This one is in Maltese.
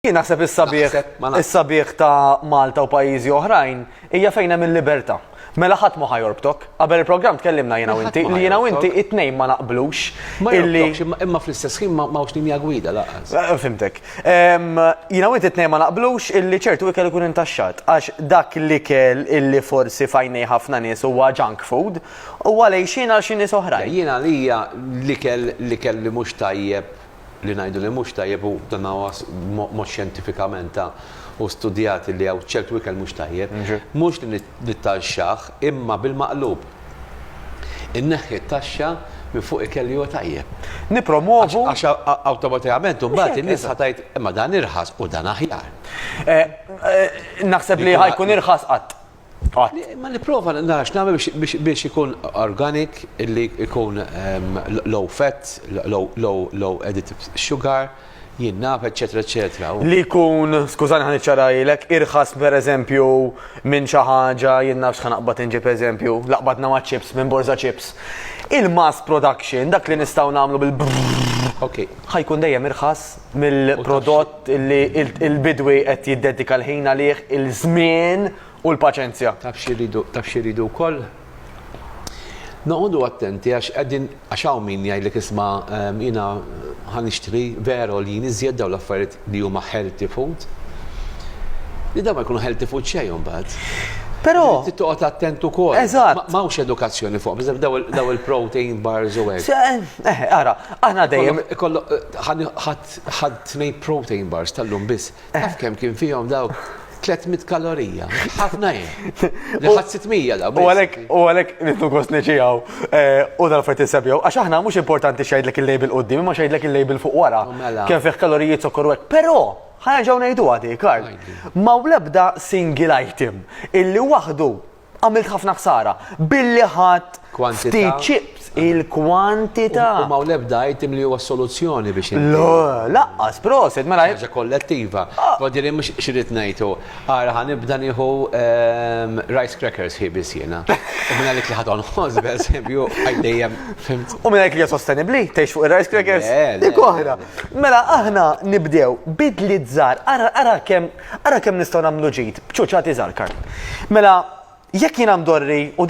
Jien naħseb is-sabiħ is-sabiħ ta' Malta u pajjiżi oħrajn hija fejn hemm il-libertà. Mela ħadd ma ħajjorbtok. Qabel il-programm tkellimna jiena inti li jiena inti it-tnejn ma naqblux. Illi imma fl-istess ħin ma hawnx linja gwida laqas. Eh, fimtek. Jiena inti it-tnejn ma naqblux illi ċertu ikel ikun intaxxat għax dak l-ikel illi forsi fajnej ħafna nies huwa junk food u għalej xina għal xi nies oħrajn. Jiena għalija l-ikel l-ikel li mhux tajjeb Li ngħidu li mhux tajjeb u dan huwa mod xjentifikament ta' u studjat li hawn ċertu ikel mhux tajjeb. Mhux li nittaxxah imma bil-maqlub. Inneħħi t-taxxa minn fuq ikel li huwa tajjeb. Nippromwovu. Għax awtomatikament imbagħad in-nies ħa tgħid imma dan irħas u dan aħjar. Naħseb li ħa jkun irħas qatt. Qatt. Ma nipprova nara x'nagħmel biex ikun organic, li jkun low fat, low added sugar, jinnaf, eċċetera eċċetera. Li jkun, skużani ħa niċċarahilek, irħas pereżempju minn xi ħaġa, jien naf x'ħa naqbad inġib eżempju, laqbadna maċ-chips minn borża chips. Il-mass production, dak li nistgħu nagħmlu bil-. Okej. Ħa jkun dejjem irħas mill-prodott li l-bidwi qed jiddedika l-ħin għalih, il-żmien u l-paċenzja. Taf xi jridu wkoll? Noqogħdu attenti għax qegħdin għax hawn min jgħidlek isma' jiena ħa nixtri veru għoljin iżjed dawn l-affarijiet li huma healthy food, li dawn ma jkunu healthy food xejn imbagħad. Però. Trid toqgħod attent ukoll. Eżatt. M'hawnx edukazzjoni fuqhom, dawn il-protein bars u hekk. Eħe, ara. Aħna dejjem ikollok ħadd tnej protein bars tal-lum biss. Taf kemm kien fihom dawk 300 kalorija. Ħafna jien. Li ħadd 600 daw. U għalhekk u għalhekk nitlu gost niġijaw eh, u dal-affarijiet insebjaw. Għax aħna mhux importanti xejdlek il-label qudiem, imma xejdlek il-label fuq wara. Oh, mela. Kemm fih kaloriji zokkor hekk. Però ħaġa ngħidu għadi, Karl. Ma' l-ebda single item illi waħdu għamilt ħafna ħsara billi ħadd ftit chips il-kwantità. U ma' l-ebda item li huwa soluzzjoni biex. Laqqas, proset, mela. Ħaġa kollettiva. Ah. Kodiri mhux xirrit ngħidu. Ara ħan nibda nieħu ehm, rice crackers hi biss jiena. U minn għalik li ħadon ħoż b'eżempju għaddejjem fimt. U minn għalik li sostenibbli tgħix fuq ir-rice crackers. Dik oħra. Mela aħna nibdew bidli żgħar, ara ara kemm Ara kemm nistgħu nagħmlu ġid b'ċuċati żgħar, Karl. Mela, jekk jiena mdorri u